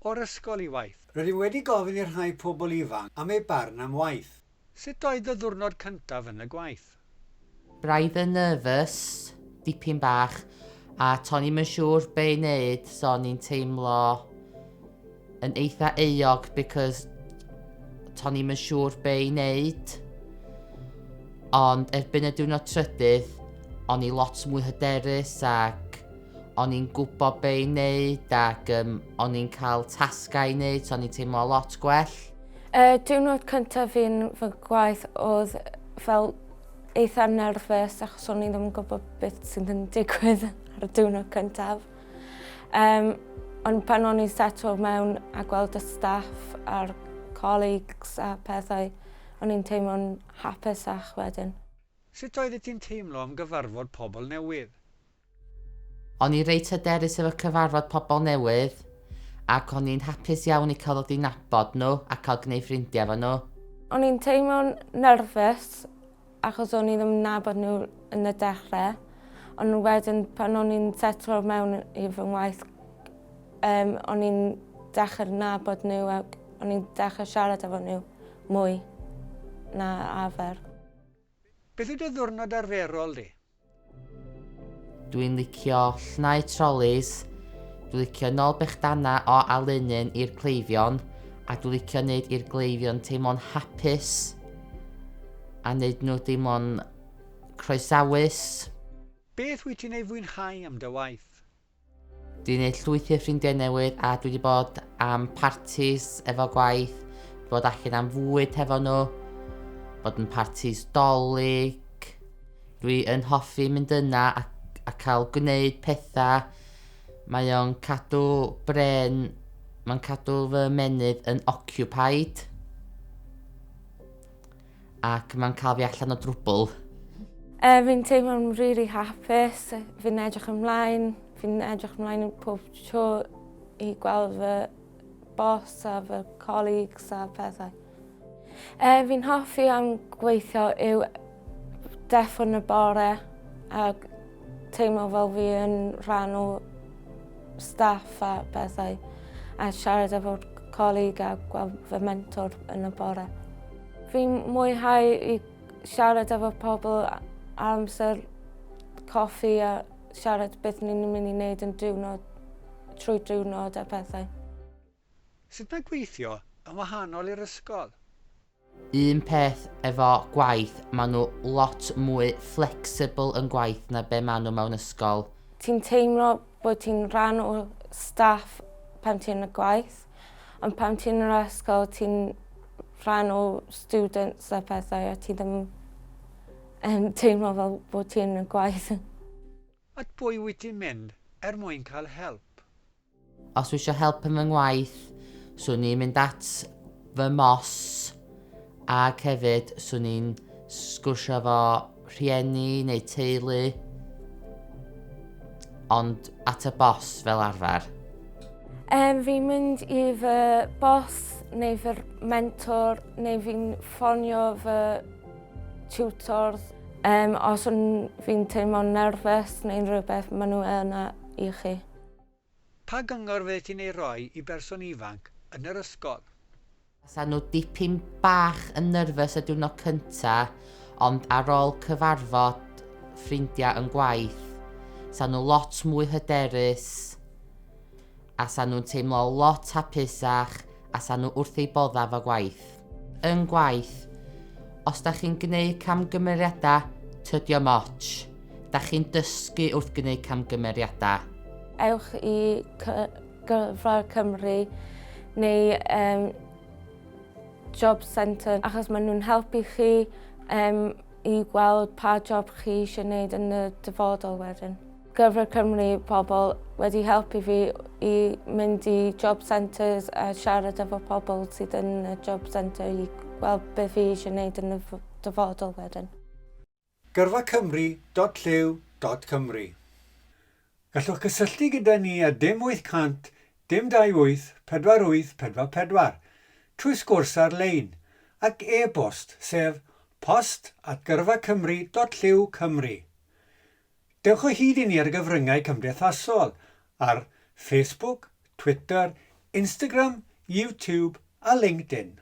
o'r ysgol i waith. Rydym wedi gofyn i'r rhai pobl ifanc am eu barn am waith. Sut oedd dy ddiwrnod cyntaf yn y gwaith? Braidd yn nervous, dipyn bach, a to'n i'm yn siŵr be' i neud so o'n i'n teimlo yn eitha euog because to'n i'm yn siŵr be' i neud. Ond erbyn y diwrnod trydydd o'n i lot mwy hyderus ac o'n i'n gwybod be i wneud ac yym o'n i'n cael tasgau i wneud so o'n i'n teimlo lot gwell. Y diwrnod cyntaf fi'n fy gwaith oedd fel eitha nerfus achos o'n i ddim yn gwybod beth sy'n yn digwydd ar y diwrnod cyntaf. Um, ond pan o'n i'n setlo mewn a gweld y staff a'r colleagues a pethau, o'n i'n teimlo'n hapusach wedyn. Sut oeddet ti'n teimlo am gyfarfod pobl newydd? O'n i reit hyderus efo cyfarfod pobl newydd, ac o'n i'n hapus iawn i cael dod i nabod nhw a cael gwneud ffrindiau efo nhw. O'n i'n teimlo'n nyrfys achos o'n i ddim yn nabod nhw yn y dechrau, ond wedyn pan o'n i'n setlo mewn i fy ngwaith yym o'n i'n dechrau nabod nhw ac o'n i'n dechrau siarad efo nhw mwy na arfer. Beth yw dy ddiwrnod arferol di? Dwi'n licio llnau trolis, dwi licio nol bechdana o alenyn i'r cleifion, a dwi licio neud i'r gleifion teimlo'n hapus, a neud nhw deimlo'n croesawus. Beth wyt ti'n ei fwynhau am dy waith? Dwi wedi gwneud llwyth o ffrindiau newydd a dwi wedi bod am partis efo gwaith, dwi bod allan am fwyd hefo nhw, bod yn partis dolyg. Dwi yn hoffi mynd yna a, a cael gwneud pethau. Mae o'n cadw bren, mae'n cadw fy menydd yn occupied. Ac mae'n cael fi allan o drwbl. Uh, fi'n teimlo'n really hapus, fi'n edrych ymlaen, fi'n edrych ymlaen pob tro i gweld fy bos a fy colleagues a pethau. Uh, fi'n hoffi am gweithio yw deffon y bore a Teimlo fel fi yn rhan o staff a bethau a siarad efo colleague a gweld fy mentor yn y bore. Fi'n mwynhau i siarad efo pobl a- ar amser coffi a siarad beth ni'n mynd i neud yn diwrnod trwy diwrnod a pethau. Sut mae gweithio yn wahanol i'r ysgol? Un peth efo gwaith, maen nhw lot mwy flexible yn gwaith na be maen nhw mewn ysgol. Ti'n teimlo bod ti'n rhan o staff pan ti'n y gwaith, ond pan ti'n yr ysgol ti'n rhan o students a pethau a ti ddim yn teimlo fel bod ti'n y gwaith. At bwy wyt ti'n mynd er mwyn cael help? Os wisio help yn fy ngwaith, swn i'n mynd at fy mos ac hefyd swn i'n sgwrsio efo rhieni neu teulu ond at y bos fel arfer. Yym fi'n mynd i fy bos neu fy mentor neu fi'n ffonio fy tiwtors. Yym os fi'n teimlo'n nerfus neu'n rhywbeth maen nhw yna i chi. Pa gyngor fyddet ti'n ei roi i berson ifanc yn yr ysgol? Basan nhw dipyn bach yn nyrfys y diwrnod cynta, ond ar ol cyfarfod ffrindia yn gwaith, sa nhw lot mwy hyderus, a sa nhw'n teimlo lot hapusach, a sa nhw wrth eu bodda 'fo gwaith. yn gwaith. Os da chi'n gwneud camgymeriadau, tydio moch. Da chi'n dysgu wrth gwneud camgymeriadau. Ewch i Gyrfa Cymru neu um, Job Centre achos maen nhw'n helpu chi um, i gweld pa job chi eisiau gwneud yn y dyfodol wedyn. Gyfer Cymru pobl wedi helpu fi i mynd i job centres a siarad efo pobl sydd yn y job centre i gweld beth fi eisiau gwneud yn y dyfodol wedyn. Gyrfa Cymru dot llyw dot Cymru Gallwch gysylltu gyda ni ar dim 800 dim 28 48 44 trwy sgwrs ar-lein ac e-bost sef post at gyrfacymru dot llyw Cymru. Dewch o hyd i ni ar y gyfryngau cymdeithasol ar Facebook, Twitter, Instagram, YouTube a LinkedIn.